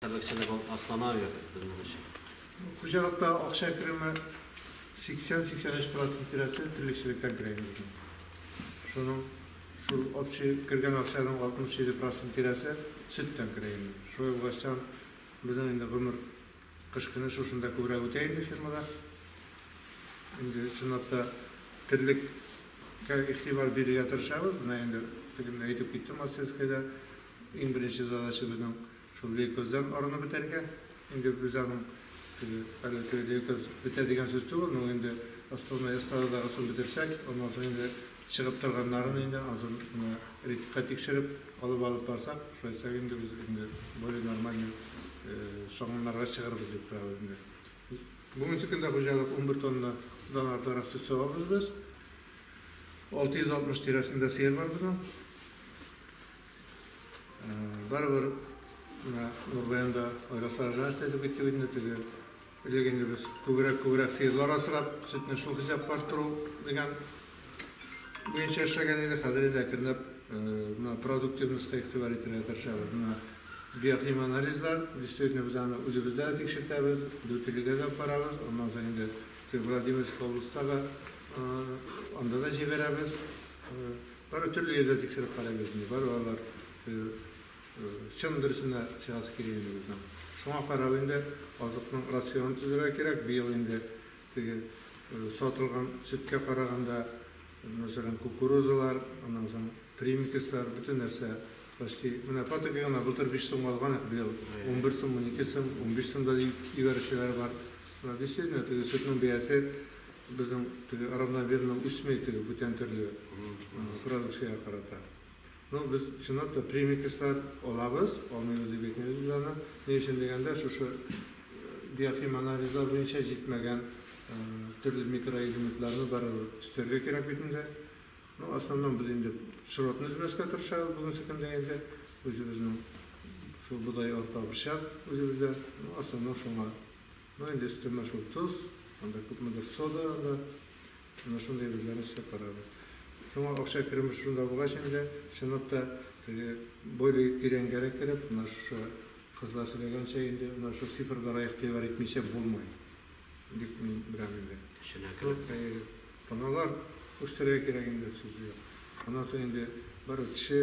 Табәкчәдә балык аслана әверелде безнең өчен. Хуҗалыкта акча кереме 80-83 процент тирәсе терлекчелектән керә иде безнең. Шуның шул общий кергән акчаның 67 процент тирәсе сөттән керә иде. Шулай булгачтан, безнең инде гомер кыш көне шушында күбрәк үтә инде фермада. Инде чынлап та терлеккә игътибар бирергә тырышабыз. Менә инде тегендә әйтеп киттем, Мастерскойда иң беренче задача безнең Шул лейкоздан арынып бетәргә. Инде без аның теге әле теге лейкоз бетә дигән сүз түгел, ну инде остальной эстрададагысын бетерсәк, аннан соң инде чыгып торганнарын инде ансын менә ритмга тикшереп алып алып барсак, шулайсак инде без инде более нормальный согымнарга чыгырбыз дип торабыз инде. Бүгенче көндә хуҗалык унбер тоннадан артыграк сөт савабыз без. Алты йөз алтмыш тирәсендә сыер бар безнең. Барыбер менә Нурбаян да Айраса жалость әйтеп китте бит инде теге. Элек инде без күбрәк күбрәк сыерлар асрап, сөтне шул хисапка арттыру дигән буенча эшләгән иде. Хәзер инде әкренләп менә продуктивностька игътибар итәргә тырышабыз. Менә биохим анализлар, действительно без аны үзебездә дә тикшертәбез, Дүртөйлегә дә барабыз, аннан соң инде теге Владимирский областьта да анда да җибәрәбез. Бары төрле йөрдә тикшереп карыйбыз инде, бары алар чын дөресенә чыгасы килә инде безнең. Шуңа карап инде азыкның рационын төзергә кирәк, быел инде теге сатылган сөткә караганда, мәсәлән, кукурузалар, аннан соң примикслар, бөтен нәрсә почти, менә фотога гына былтыр биш сумга алган идек, быел унбер сум, унике сум, унбиш сум да ибәрүчеләр бар. Менә действительно теге сөтнең бәясе Безнең теге равномерно үсми теге бүтән төрле продукциягә карата. Ну, без чынлап та премикслар алабыз, алмыйбыз дип әйтмибез без аны. Ни өчен дигәндә, шушы биохим анализлар буенча җитмәгән төрле микроэлементларны барыбер өстәргә кирәк бит инде. Ну, основном без инде широтны өзмәскә тырышабыз бүгенге көндә инде. Үзебезнең шул бодай, арпа, борчак үзебездә. Ну, основном шуңа Ну инде өстәмә шул тоз, анда күпмедер сода да, менә шундый әйберләрне эшләп карады. Шуңа акча кереме шунда булгач инде, чынлап та, теге более тирәнгәрәк кереп, менә шушы кызлар сөйләгәнчә инде, менә шул цифрларга игътибар итмичә булмый, дип мин беләм инде. Эченә кереп. Әйе, таналар үстерергә кирәк инде, сүз юк. Аннан соң инде барыбер кеше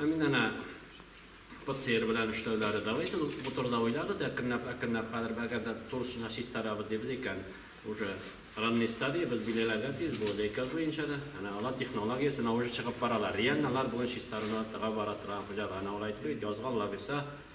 Ә мин әнә ПЦР белән эшләүләре давай сез бу турыда уйлагыз, әкренләп, әкренләп хәзер әгәр дә турысына чистарабыз дибез икән, уже ранней стадия, без билгеләргә тиеш бу лейкоз буенча да, әнә алар технология сына уже чыгып баралар, реально алар бүген чистарына тыга бара торган хуҗалар, әнә ул әйтте бит, язга алла бирса,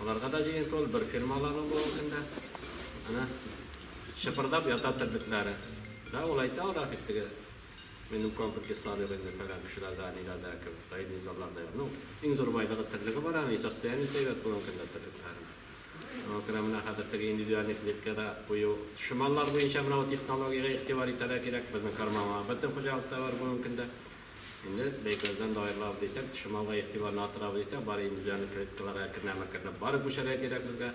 Аларга да җыенту ул, бер фирма аларның бүгенге көндә. Әнә шыпырдап ята терлекләре. Да, ул әйтә алар бит теге минем комплекс кислород инде фәлән кешеләрдә, ниләрдә, кебек, даими низагларда. Ну, иң зур байлыгы терлеге бар аны, и состояние сәйбәт булган көндә терлекләрен. Шуңа күрә менә хәзер теге индивидуальный клеткада кую. Шоманлар буенча менә бу технологиягә игътибар итәргә кирәк. Безнең карманга бөтен хуҗалыкта бар бүгенге көндә. Инде бәйгеләрдән дә аерылабыз дисәк, чималга игътибарны арттырабыз дисәк, бары индивидуаль клеткаларга кернәмә-кернәп бары күчәргә кирәк безгә.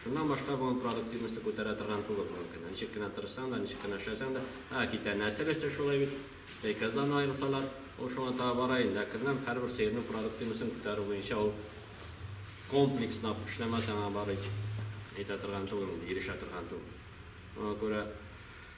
Шуннан башка бүген продуктивностьны күтәрә торган түгел бүгенге көндә. Ничек кенә тырышсаң да, ничек кенә эшләсәң дә, ә китә нәсел эше шулай бит. Бәйгеләрдән аерылсалар, ул шуңа таба бара инде. Әкренләп һәрбер сыерның продуктивностьын күтәрү буенча ул комплекслап эшләмәсәң, аңа бары әйтә торган түгел инде, ирешә торган түгел. Шуңа күрә